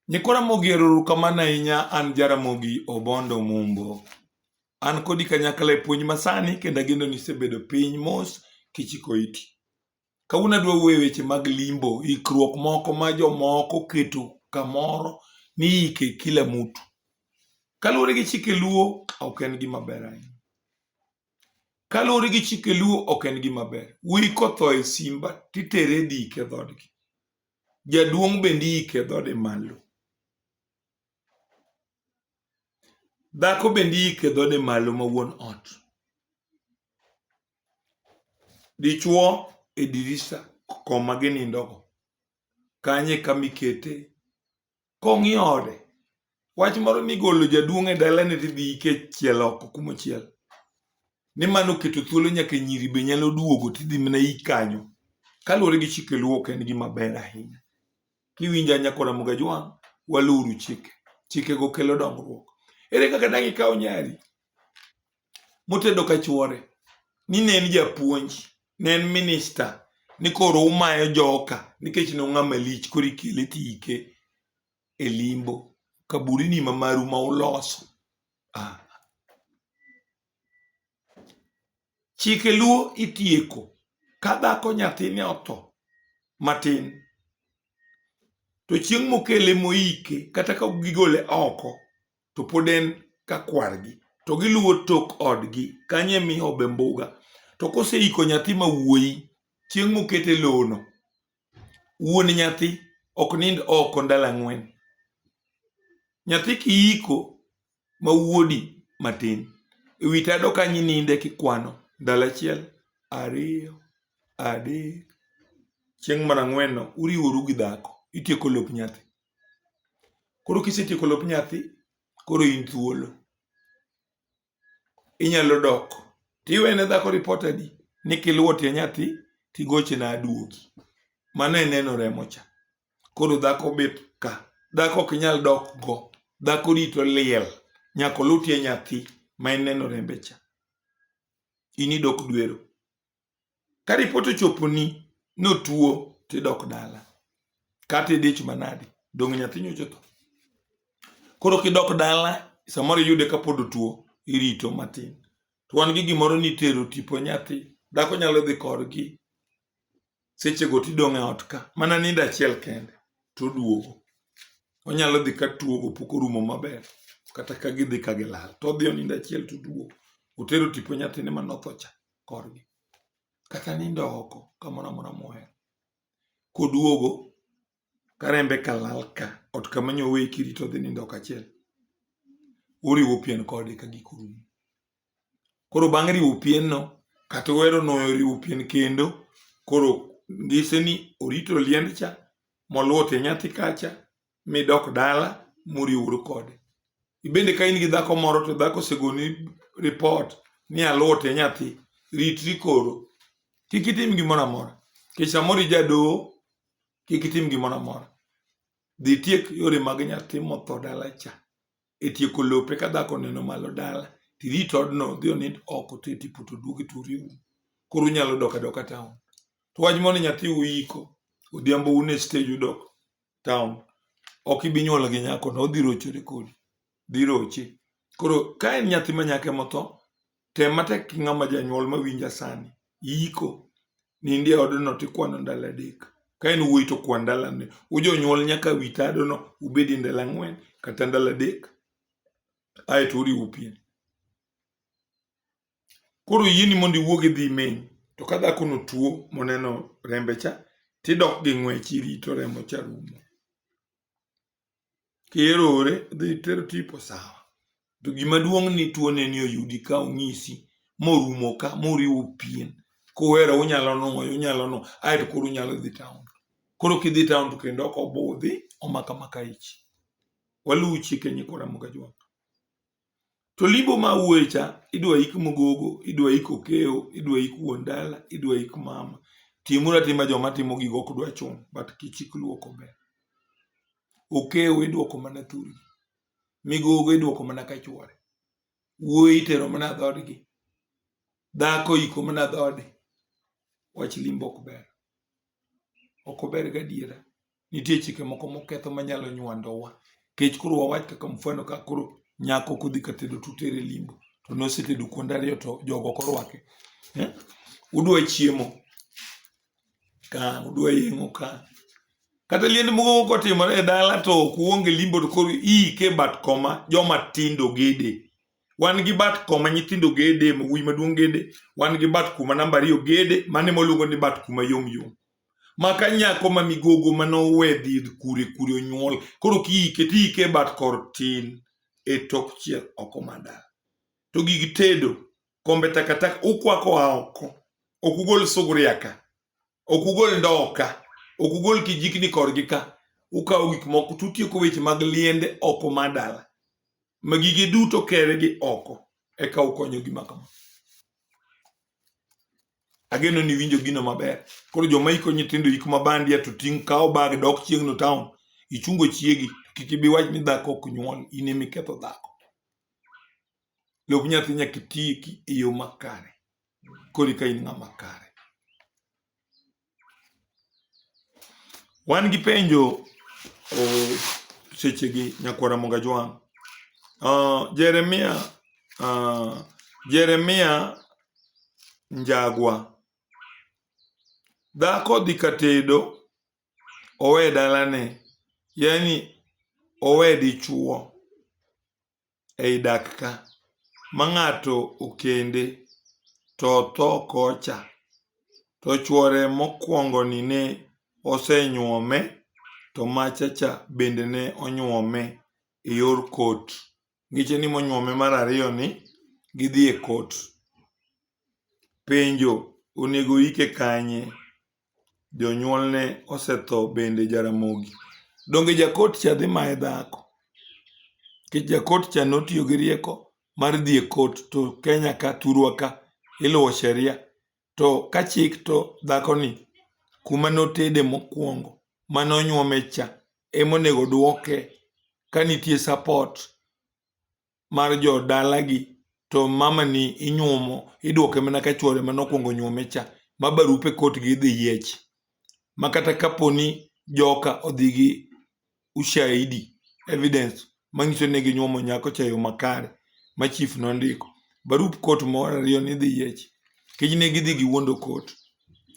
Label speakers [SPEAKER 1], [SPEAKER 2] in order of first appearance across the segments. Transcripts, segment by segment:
[SPEAKER 1] Nyikwa Ramogi erokamano ahinya an Jaramogi Obondo Mumbo. An kodi kanyakla e puonj masani kendo ageno ni isebedo piny mos kichiko iti. Kawuono adwa wuoyo e weche mag limbo, ikruok moko ma jomoko keto kamoro ni ike kila mutu. Kaluwore gi chike luo ok en gima ber ahinya. Kaluwore gi chike luo ok en gima ber. Wuoyi kotho e simba titere dike dhodgi. jaduong' bende iike dhode malo dhako bende iike dhode malo ma wuon ot dichuo e dirisa koma ginindogo kanye kama ikete kong'i ode wach moro ni golo jaduong' e dalane tidhi ike e chiel oko kumochiel ni mano oketo thuolo nyaka nyiri be nyalo duogo tidhi mana i kanyo kaluwore gi chike luo ok en gima ber ahinya kiwinjo anya kora mugajwang' waluru chike chikego kelo dongruok ere kaka dang' ikaw nyari motedo ka chuore ni ne en japuonj ne en minista ni koro umayo joka nikech ne ong'a malich koro ikele tiike e limbo kaburini ma maru ma uloso ah. chike luo itieko ka dhako nyathine otho matin to chieng' mokele moike kata ka gigole oko to pod en ka kwargi to giluwo tok odgi kanye mi obe mbuga to koseiko nyathi ma wuoyi chieng' mokete lono wuon nyathi ok nind oko ndalo ang'wen nyathi kiiko ma wuodi matin e wi tado kanyi ninde kikwano ndalo achiel ariyo adek chieng' mar ang'wenno uriworu gi dhako itieko lop nyathi Koro kisetieko lop nyathi, koro in thuolo. Inyalo dok tiwene dhako ripot adi ni kiluwo tie nyathi tigochena aduogi. Mano e neno remo cha. Koro dhako bet ka, dhako ok nyal dok go, dhako rito liel nyaka oluw tie nyathi ma en neno rembe cha. In idok dwero. Ka ripot ochoponi ni otuo tidok dala kata idich manadi, donge nyathi nyocha otho? Koro kidok dala samoro iyude kapod otuo irito matin. To wan gi gimoro ni itero tipo nyathi, dhako nyalo dhi korgi sechego tidong' e ot ka mana nindo achiel kende toduogo. Onyalo dhi ka tuogo pok orumo maber kata ka gidhi ka gilal todhi onindo achiel toduogo. Otero tipo nyathine mane otho cha. korgi kata nindo oko kamoro amora mohero koduogo karembe kalal ka ot kama nyowe kirito dhi nindo oko achiel uriwo pien kode ka giko rumo koro bang' riwo pienno kata wero noriwo pien kendo koro ngise ni orito liend cha moluwo tie nyathi kacha midok dala muriwru kode ibende ka in gi dhako moro to dhako osegoni ripot ni aluote nyathi ritri koro kik itim gimoro amora kech samoro ijadoho kik itim gimoro amora dhi tiek yore mag nyathi motho dala cha e tieko lope ka dhako neno malo dala tirit odno dhi onind oko to itipo to duogi to uriwu koro unyalo dok adoka taon to wach mondo nyathi uiko odhiambo un e stage udok town ok ibi nyuol gi nyako no odhi rochore kodi dhi roche koro ka en nyathi ma nyako emotho tem matek ki ng'ama janyuol ma winja sani iko nindi e odno tikwano ndalo adek ka en wuoyi to kwan ndalo ne ujonyuol nyaka wi tadono ubedi ndalo ang'wen kata ndalo adek aeto uriwu pien Koro yieni mondo iwuog idhi imain. To ka dhakono tuo moneno rembe cha, tidok gi ng'wech irito remo cha rumo. Kierore, dhi ter tipo sawa. To gima duong' ni tuone ni oyudi ka onyisi morumo ka moriwo pien. Kuwero unyalo nwoyo, unyalo no, aeto koro unyalo dhi taon. Koro kidhi taon to kendo ok obudhi, omaka maka ich. Waluw chike nyikwa Ramogi Ajwang'. To limbo ma wuoye cha idwa ik mogogo, idwa ik okeo, idwa ik wuon dala, idwa ik mama. Timuru atima joma timo gigo ok dwa chun, but kichik luoko ber. Okeo idwoko mana thurgi. Migogo idwoko mana ka chwore. Wuoyi itero mana dhodgi. Dhako iko mana dhode. Wach limbo ok ber. Ok ober gadiera. nitie chike moko moketho manyalo nywandowa kech koro wawach kaka mfano ka koro nyako kodhi ka tedo tutere limbo to nosetedo kuonde ariyo to jogo korwake eh? udwa chiemo ka udwa yeng'o ka kata liend moko kotimore e dala to ok uonge limbo to koro iike bat koma joma tindo gede wan gi bat koma nyithindo gede mawuoyi maduong' gede wan gi bat kuma namba ariyo gede mane moluongo ni bat kuma yom yom maka nyako ma migogo ma nowedhi kure kure onyuol koro kiike tiike bat kor tin e tok chiel oko mada to gig tedo kombe takataka ukwako a oko ok ugol suguria ka ok ugol ndoo ka ok ugol kijikni korgi ka ukawo gik moko tutieko weche mag liende oko mar dala ma gige duto kere gi oko eka ukonyo gima kama ageno ni winjo gino maber koro joma iko nyithindo ik mabandia to ting' kawo bag dok chieng'no town ichungo chiegi kik ibi wach ni dhako ok nyuol in emi ketho dhako lop nyathi nyaka iti e yo makare kori ka in ng'ama kare Wan gi penjo oh, sechegi nyakwara Monga Jwang'. Uh, Jeremia uh, Jeremia Njagwa. Dhako dhi ka tedo owe dalane, yani owe dichuo. ei dak ka ma ng'ato okende to otho kocha to chuore mokuongo ni ne osenyuome to macha cha bende ne onyuome e yor court. Ngeche ni monyuome mar ariyo ni gidhi e court. Penjo, onego oike kanye? jonyuolne osetho bende Jaramogi. Donge jakot cha dhi maye dhako? Nikech jakot cha notiyo gi rieko mar dhi e kot to Kenya ka thurwa ka iluwo sheria to ka chik to dhakoni kuma notede mokwongo mane onyuome cha emonego dwoke ka nitie support mar jo dalagi to mamani inyuomo iduoke mana ka chwore mane okwongo nyuome cha ma barupe kotgi idhi yiech ma kata kaponi joka odhi gi ushahidi evidence manyiso ni ginyuomo nyako cha e yo makare ma chief nondiko barup kot moro ariyo ni idhi yiech kiny ne gidhi giwuondo kot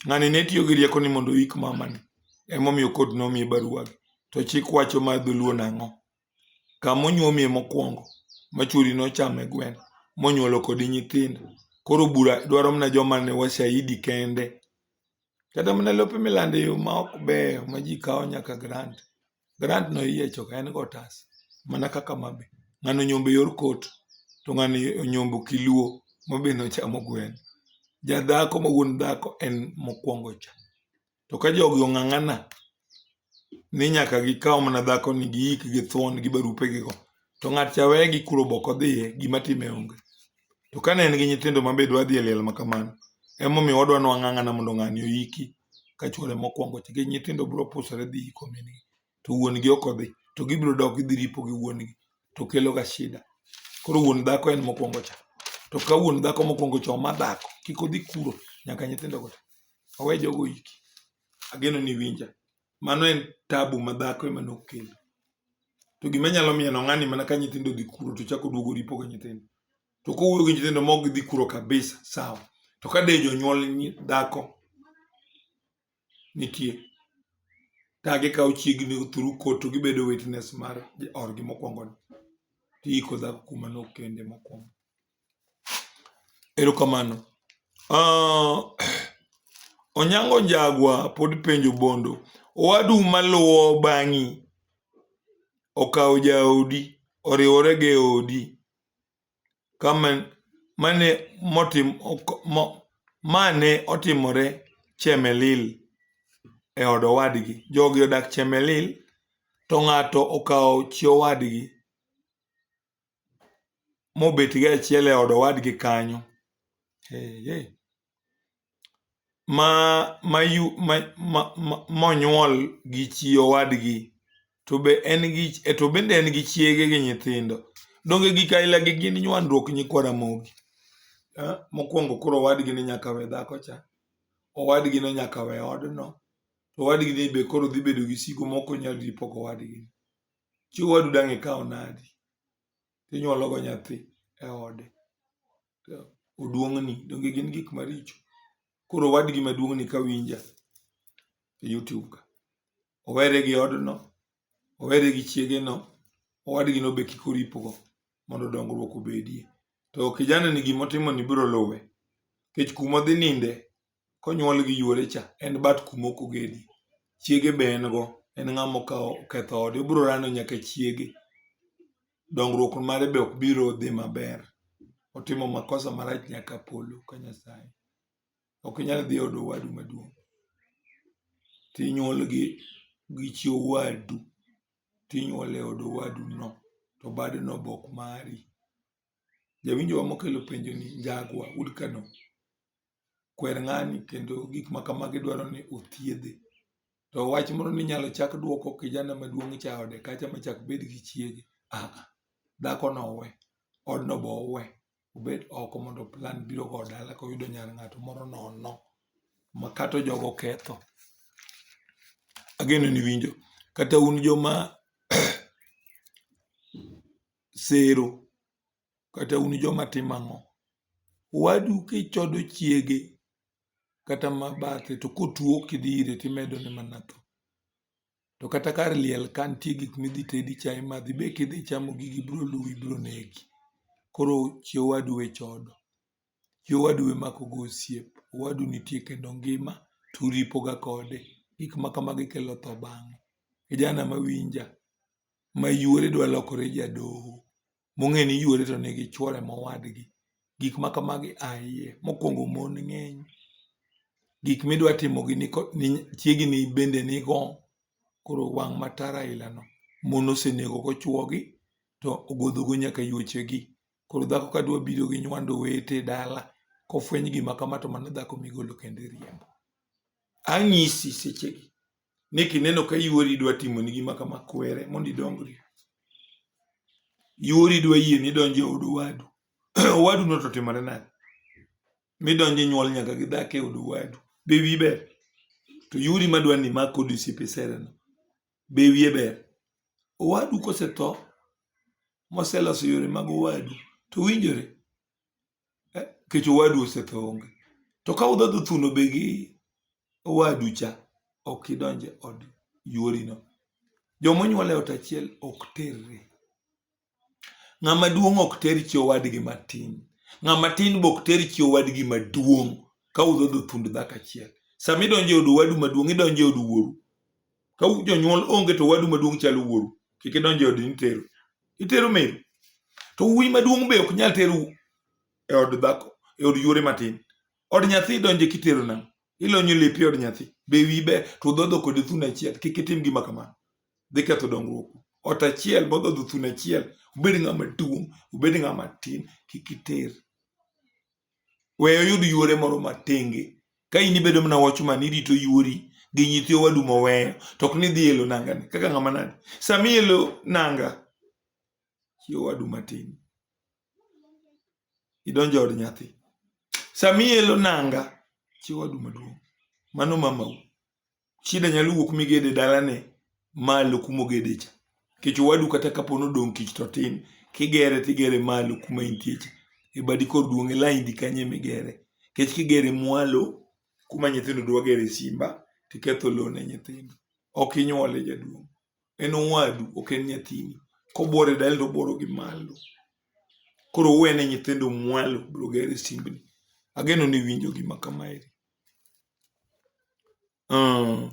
[SPEAKER 1] ng'ani ne tiyo gi rieko ni mondo oik mamani emomiyo kot nomiye baruagi to chik wacho mar dholuo nang'o? kama onyuomie mokwongo ma chwori nochame gweno monyuolo kodi nyithindo. Koro bura dwaro mana joma ne washahidi kende. Kata mana lope milando e yo ma ok beyo ma ji kawo nyaka grant. Grant no iyiecho ka en gotas mana kaka ma be. Ng'ano onyombo e yor kot to ng'ano onyombo kiluo ma be nochamo gweno. Jadhako ma wuon dhako en mokwongo cha. To ka jogi ong'ang'ana ni nyaka gikaw mana dhako ni giik gi thuon gi barupe gigo, to ng'at cha weye gi kuro boko dhiye, gima time onge. To kane en gi nyithindo ma be dwa dhi e liel ma kamano, emomiyo wadwa ni wang'ang'ana mondo ng'ani oiki ka chwore mokwongo nikech nyithindo biro pusore dhi iko min-gi. to wuon gi ok odhi to gibiro dok gidhi ripo gi wuon gi to kelo ga shida koro wuon dhako en mokwongo cha to ka wuon dhako mokwongo cha ma dhako kik odhi kuro nyaka nyithindo go owe jogo iki ageno ni winja mano en tabu ma dhako ema nokelo to gima nyalo miyo no ng'ani mana ka nyithindo dhi kuro to chako duogo ripo ga nyithindo to kowuoyo gi nyithindo mok gidhi kuro kabisa sawa to ka de jonyuol dhako nitie ka gikawo chiegni through court to gibedo witness mar orgi mokwongo ni tiiko dhako kuma nokende mokwongo erokamano uh, onyango njagwa pod penjo bondo owadu maluwo bang'i okawo jaodi oriwore gi odi kama mane motim mane otimore Chemelil e od owadgi. Jogi odak Chemelil to ng'ato okawo chi owadgi mobet gi achiel e od owadgi kanyo. ma monyuol gi chi owadgi to be en gi to bende en gi chiege gi nyithindo. Donge gik aila gi gin nywandruok nyikwa Ramogi. Mokwongo koro owadgi ni nyaka we dhako cha, owadgi ni nyaka we odno, to owadgi ni be koro dhi bedo gi sigu mok onyal ripo kowadgi. Chi owadu dang' ikaw nadi? Inywolo go nyathi e ode. oduong'ni donge gin gik maricho koro wadgi maduong'ni ka winja e youtube ka owere gi odno owere gi chiegeno owadgi no be kik oripogo mondo dongruok obedie to kijana ni gima otimoni biro luwe nikech kuma odhi ninde konyuol gi yuore cha en bat kuma ok ogedie. Chiege be en go, en ng'ama okawo oketho ode, obiro rando nyaka chiege. Dongruok mare be ok biro dhi maber. Otimo makosa marach nyaka polo ka Nyasaye. Ok inyal dhi e od owadu maduong' tinyuol gi gi chi owadu tinyuol e od owadu no to badno be ok mari. Jawinjowa mokelo penjoni, Njagwa, Wood Canon, kwer ng'ani kendo gik ma kamagi dwaro ni othiedhe. To wach moro ni inyalo chak dwoko kijana maduong' cha ode kacha ma chak bed gi chiege, ah ah, dhakono owe, odno be owe, obed oko mondo plan biro go dala koyudo nyar ng'ato moro nono ma kata ojogo oketho. Ageno ni iwinjo. Kata un joma sero, kata un joma timo ang'o? Owadu kichodo chiege kata ma bathe to kotuo kidhi ire timedone mana tho. To kata kar liel ka nitie gik midhi tedi cha imadhi be kidhi chamo gigi biro luwi biro negi. Koro chi owadu we chodo, chi owadu we makogo osiep. Owadu nitie kendo ngima to uripoga kode, gik ma kamagi kelo tho bang'e. Kijana mawinja, mayuore dwa lokore jadoho, mong'e ni yuore to nigi chuore mowadgi. Gik ma kamagi a iye. Mokwongo mon ng'eny. Gik midwa timo gi ni ko- ni chiegni bende nigo. Koro wang' matara ailano. Mon osenego kochuogi to ogodhogo nyaka yuochegi. Koro dhako ka dwa biro gi nywando wete e dala, kofweny gima kama to mano dhako migolo kendo iriembo. Anyisi sechegi ni kineno ka yuori dwa timoni gima kama kwere mondo idongri yuori dwa yie ni donjo e od owadu owadu no to timore nade midonjo nyuol nyaka gi dhako e od owadu be wi ber to yuori madwa ni mak kod osiepe sereno be wiye ber owadu kosetho moseloso yore mag owadu to winjore eh, kech owadu osetho onge to ka udhodho thuno be gi owadu cha ok idonje od yuorino joma onyuol e ot achiel ok terre ng'ama duong' ok ter chi owadgi matin ng'ama tin be ok ter chi owadgi maduong' ka udhodho thund dhako achiel sama idonjo e od owadu maduong' idonjo e od wuoru ka jonyuol onge to wadu maduong' chalo wuoru kik idonje od nitero itero meru to wuoyi maduong' be ok nyal teru e od dhako e od yuore matin od nyathi donje kitero nang' ilonyo lepi e od nyathi be wi be to dhodho kod thuno achiel kik itim gima kamano dhi ketho dongruok ot achiel modhodho thuno achiel obed ng'ama duong' obed ng'ama tin kik iter Weyo yud yuore moro matenge. Ka in ibedo mana watchman irito yuori gi nyithi owadu moweyo to ok ni dhi elo nanga ni kaka ng'ama nade. Sama ielo nanga chi owadu matin idonjo od nyathi. Sama ielo nanga chi owadu maduong' mano mamau. Shida nyalo wuok migede dalane malo kuma ogede cha. Nikech owadu kata kapo ni odong' kich to tin, kigere tigere malo kuma intie cha. E badi kor duong' e laindi kanyo ema igere. Nikech kigere mwalo kuma nyithindo dwa gere simba, to iketho lowo ne nyithindo. Ok inyuole jaduong'. En owadu, ok en nyathini. Kobuoro e dalani to obuoro gi malo. Koro uwe ne nyithindo mwalo biro gero e simbni. Ageno ni iwinjo gima kamaeri. Uh,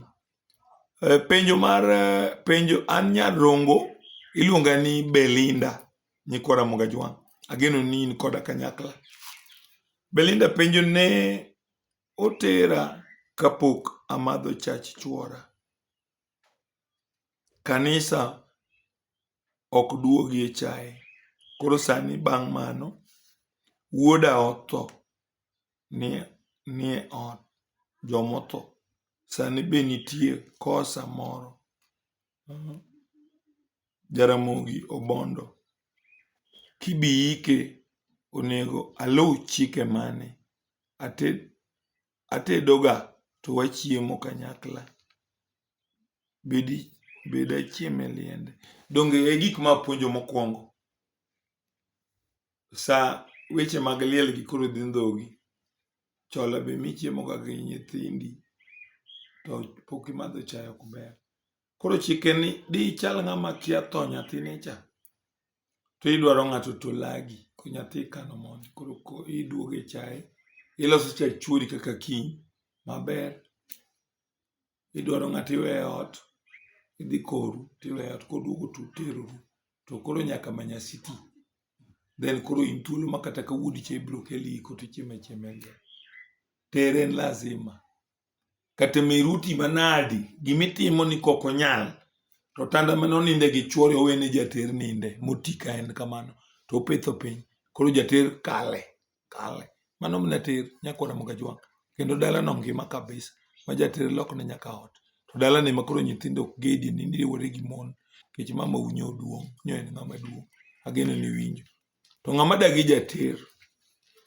[SPEAKER 1] penjo mar eh, penjo an Nyarongo iluonga ni Belinda nyikwa Ramoga Jwang'. Ageno ni in koda kanyakla. Belinda penjo ne otera kapok amadho chach chuora. Kanisa ok duogie chaye. Koro sani bang' mano wuoda otho nie nie ot jomotho sani be nitie kosa moro jaramogi obondo kibiyike onego aluw chike mane ated atedo ga to wachiemo kanyakla bedi bed achiem e liende donge e gik mapuonjo mokwongo sa weche mag liel gi koro dhi ndhogi chola be michiemo ga gi nyithindi to pok imadho chae ok ber koro chike ni di ichal ng'ama kia tho nyathine cha to idwaro ng'ato to lagi ko nyathi ikano mondi koro ko iduogo e chae iloso cha chwori kaka kiny maber idwaro ng'ato iwe e ot, idhi koru tiwe e ot koduogo to uteroru to koro nyaka manya siti then koro in thuolo ma kata ka wuodi cha ibiro keli iko to ichiemo achiema e liel. Tere en lazima. Kata miruti manadi, gima itimo ni kok onyal to otanda mane oninde gi chuore owene jater ninde moti ka en kamano to opetho piny koro jater kale kale. Mano mne tir nyakwar Ramogi Ajwang' kendo dalano ngima kabisa ma jatere lokne nyaka ot. To dalani ma koro nyithindo ok gedi ni niriwore gi mon nikech mama u nyo duong' nyo en ng'ama duong'. Ageno ni iwinjo. To ng'ama dagi jater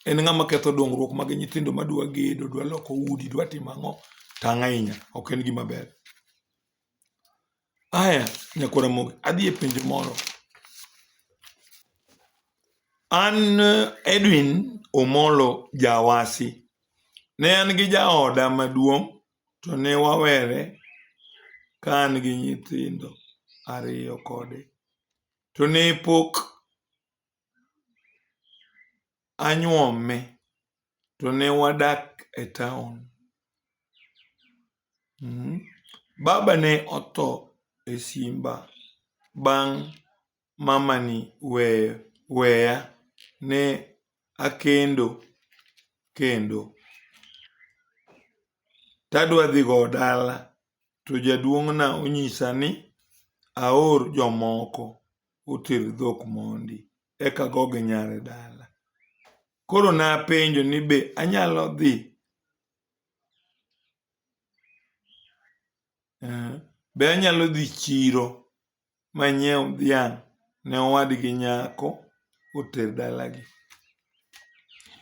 [SPEAKER 1] en ng'ama ketho dongruok mag nyithindo ma dwa gedo, dwa loko udi, dwa timo ang'o, tang' ahinya. Ok en gima ber. Aya, Nyako Ramogi, adhi e penjo moro. An eh, Edwin Omolo Jawasi, ne an gi jaoda maduong' to ne wawere ka an gi nyithindo ariyo kode. To ne pok anyuome to ne wadak e taon. Mhm. Baba ne otho e simba bang' mamani weyo weya ne akendo kendo tadwa dhi go dala to jaduong'na onyisa ni aor jomoko oter dhok mondi eka agogi nyare dala. Koro napenjo ni be anyalo dhi eh, be anyalo dhi chiro manyiew dhiang' ne owadgi nyako oter dalagi.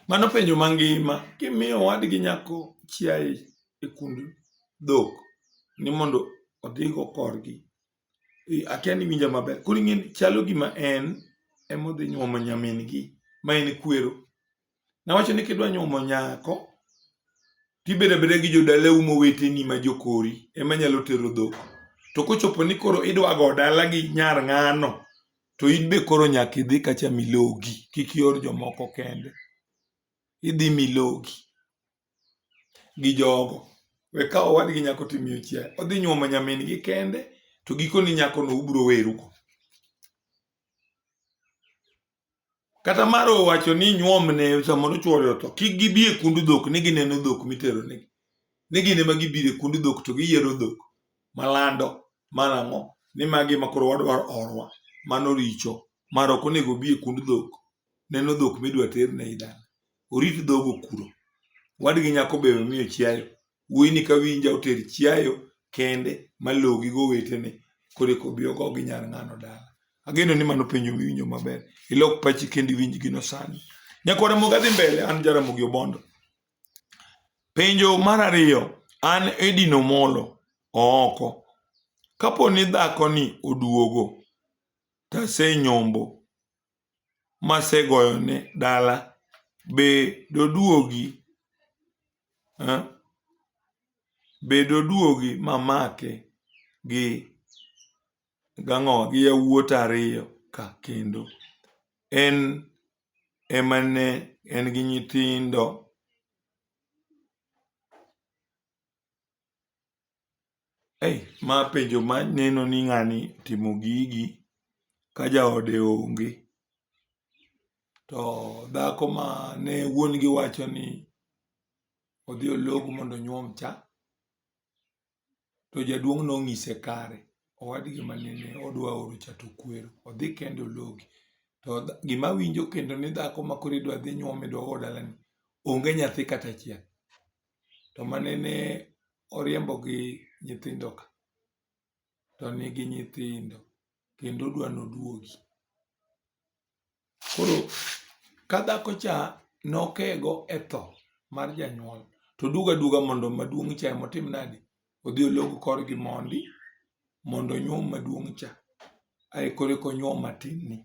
[SPEAKER 1] Mano penjo mangima kimiyo owadgi nyako chiaye e kund dhok ni mondo odhigo korgi Atiani winja maber. Koro ing'eni chalo gima en emodhi nyuomo nyamin gi ma en kwero. Nawacho ni kidwa nyuomo nyako tibedo abeda gi jodalau moweteni ma jokori ema nyalo tero dhok. To kochopo ni koro idwa go dala gi nyar ng'ano to in be koro nyaka idhi kacha milogi kik ior jomoko kende. Idhi milogi. gi jogo. We ka owadgi nyako timiyo chiaye, odhi nyuomo nyamin gi kende, to gikoni nyakono ubiro werugo. Kata mar owacho ni nyuomne samoro chuore otho, kik gibi e kund dhok ni gineno dhok mitero negi. Ni gin ema gibiro e kund dhok to giyiero dhok malando marang'o ni magi ema koro wadwaro orwa. Mano richo, mar ok onego obi e kund dhok neno dhok midwa ter ne idala. orit dhogo kuro. Wadgi nyako be omiyo chiayo. Wuoyini ka winja oter chiayo kende malogi go wetene kore kobi ogo gi nyar ng'ano dala. Ageno ni mano penjo miwinjo maber. Ilok pachi kendi winj gino sani. Nyako Ramogi adhi mbele an Jaramogi Obondo. Penjo mar ariyo an Edino Molo ooko. Kapo ni dhako ni oduogo tasenyombo masegoyone dala be doduogi eh? be doduogi mamake gi gang'o gi yawuot ariyo ka kendo en ema ne en gi nyithindo Eih ma penjo ma neno ni ng'ani timo gigi ka jaode onge. To dhako ma ne wuon gi wacho ni odhi olog mondo onyuom cha, to jaduong' nong'ise kare. Owadgi ma nene odwa oro cha to okwero, odhi kende ologi. To gima awinjo kendo ni dhako ma koro idwa dhi nyuom idwa or dalani, onge nyathi kata achiel. to manene oriembo gi nyithindo ka to nigi nyithindo kendo odwa ni oduogi. Koro ka dhako cha ne okego e tho mar janyuol to oduogo aduoga mondo maduong' cha ema otim nadi, odhi olog kor gi mondi mondo onyuom maduong' cha ae koro eka onyuom matin ni.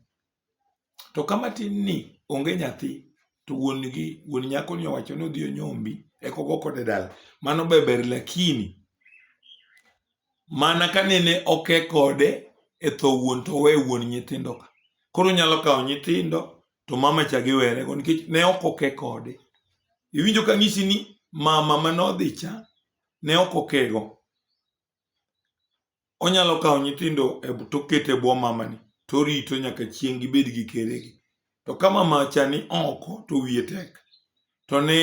[SPEAKER 1] to ka matin ni onge nyathi to wuon gi wuon nyako ni owacho ni odhi onyombi eka ogo kode dala mano be ber lakini mana ka nene oke kode e tho wuon to owe wuon nyithindo ka koro onyalo kawo nyithindo to mama cha giwerego nikech ne ok oke kode iwinjo ka ng'isi ni mama manodhi cha ne ok okego onyalo kawo nyithindo e to oketo e bwo mamani to orito nyaka chieng' gibed gi keregi. To ka mama cha ni oko to wiye tek to ne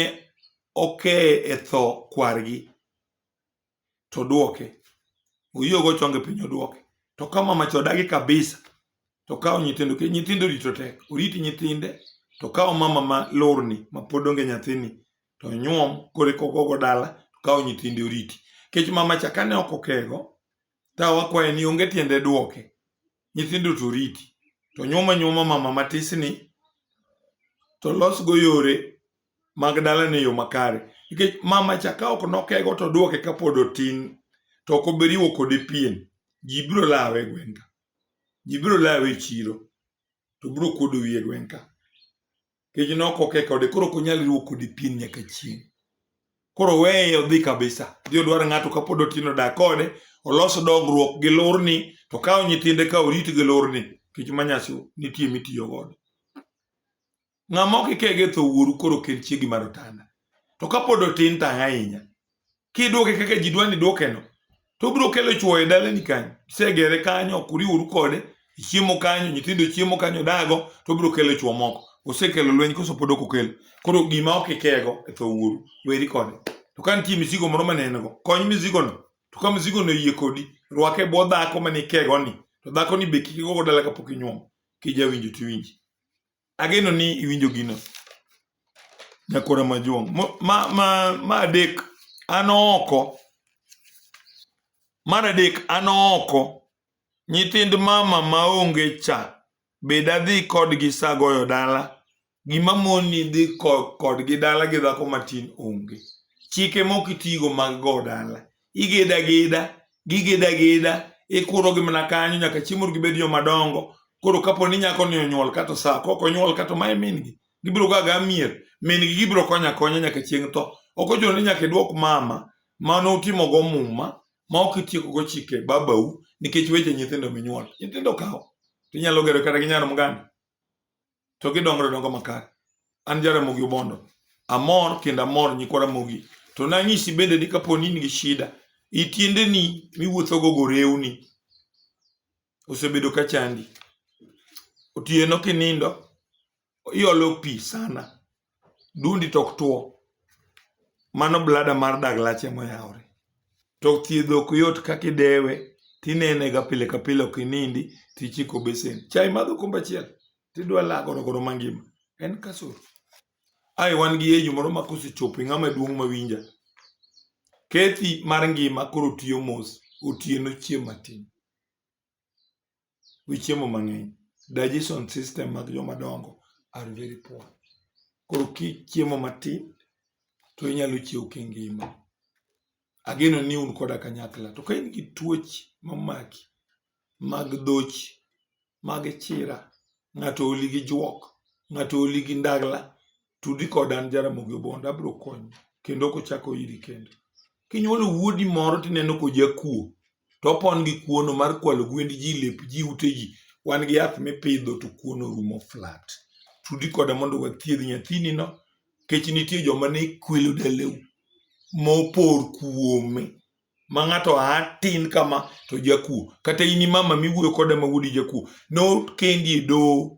[SPEAKER 1] okeye e tho kwargi to dwoke oyie ogo chonge piny odwoke. To ka mama cha odagi kabisa to okawo nyithindo nikech nyithindo rito tek oriti nyithinde to okawo mama ma lurni ma pod onge nyathini to onyuom koro eka ogogo dala kawo nyithinde oriti kech mamacha kane ok okego to wakwaye ni onge tiende duoke nyithindo to oriti to nyuoma nyuoma mama matisni to losgo yore mag dalane e yo makare nikech mamacha ka ok nokego to duoke kapod otin to ok obiriwo kode pien ji biro lawe e gweng'ka ji biro lawe e chiro to biro kuodo wiye gweng'ka kech nok ok eka ode koro ok onyal riwo kodi pien nyaka chieng' koro weye odhi kabisa dhi odwar ng'ato kapod otin odak kode olos dongruok gi lurni to kawo nyithinde ka orit gi lurni kech manyasi nitie mitiyo godo ng'ama ok ikege tho wuoru koro kel chiegi mar otanda to kapod otin tang' ahinya kidwoke kaka ji dwa ni dwokeno to obiro kelo chwo e dalani kanyo isegere kanyo ok uriworu kode ichiemo kanyo nyithindo chiemo kanyo dago to obiro kelo chwo moko osekelo lweny koso pod ok okelo koro gima ok ikego e tho wuoru weri kode to ka nitie misigo moro mane en go kony misigono to ka misigono oyie kodi rwake e bwo dhako mane ikegoni to dhakoni be kik igogo dala kapok inyuomo kijawinjo tiwinji Ageno ni iwinjo gino. Nyakora majuong'. Mo- Ma, ma, ma adek, an oko. Mar adek, an oko. Nyithind mama maonge cha, be dadhi kodgi sa goyo dala? Gima moni dhi ko- kodgi dala gi dhako matin onge. Chike mok itigo mag go dala. igeda geda gigeda geda ikurogi mana kanyo nyaka chieng' mondo gibed joma dongo koro kapo ni nyako ni onyuol kato sa kok onyuol kato mae min gi gibiro ga ga mier min gi gibiro konya konya nyaka chieng' tho ok ochuno ni nyaka idwok mama ma nutimo go muma ma ok itieko go chike babau nikech weche nyithindo minyuol nyithindo kawo tinyalo gero kata gi nyar mganda to gidongore dongo makare an jaramogi obondo amor kendo amor nyikwa ramogi to nanyisi bende ni kapo ni in gi shida itiendeni miwuothogo gorewni osebedo ka chandi otieno kinindo iolo pi sana dundi to ok two mano blada mar dag lach ema oyawore to thiedho ok yot kaka idewe tinene ga pile ka pile ok inindi tichiko besen chai madho kombe achiel tidwa lagoro goro mangima en kasoro ai wan gi yeju moro ma kosechopo ing'ama duong' mawinja kethi mar ngima koro tiyo mos otieno chieng' matin gi chiemo mang'eny, digestion system mag joma dongo are very poor. Koro kichiemo matin to inyalo chiew kingima. Ageno ni un koda kanyakla. To ka in gi tuoche mamaki mag dhoch, mag chira, ng'ato oli gi juok, ng'ato oli gi ndagla, tudi koda an Jaramogi Obondo abiro konyi kendo ok ochak oiri kendo. Kinyuolo wuodi moro tineno kojakuo to opon gi kuono mar kwalo gwend ji, lep ji, ute ji. Wan gi yath mipidho to kuono rumo flat. Tudi koda mondo wathiedh nyathinino nikech nitie joma ne kwelo daleu mopor kuome ma ng'ato aa tin kama to jakuo. Kata in imama miwuoyo koda ma wuodi jakuo nokendi e doho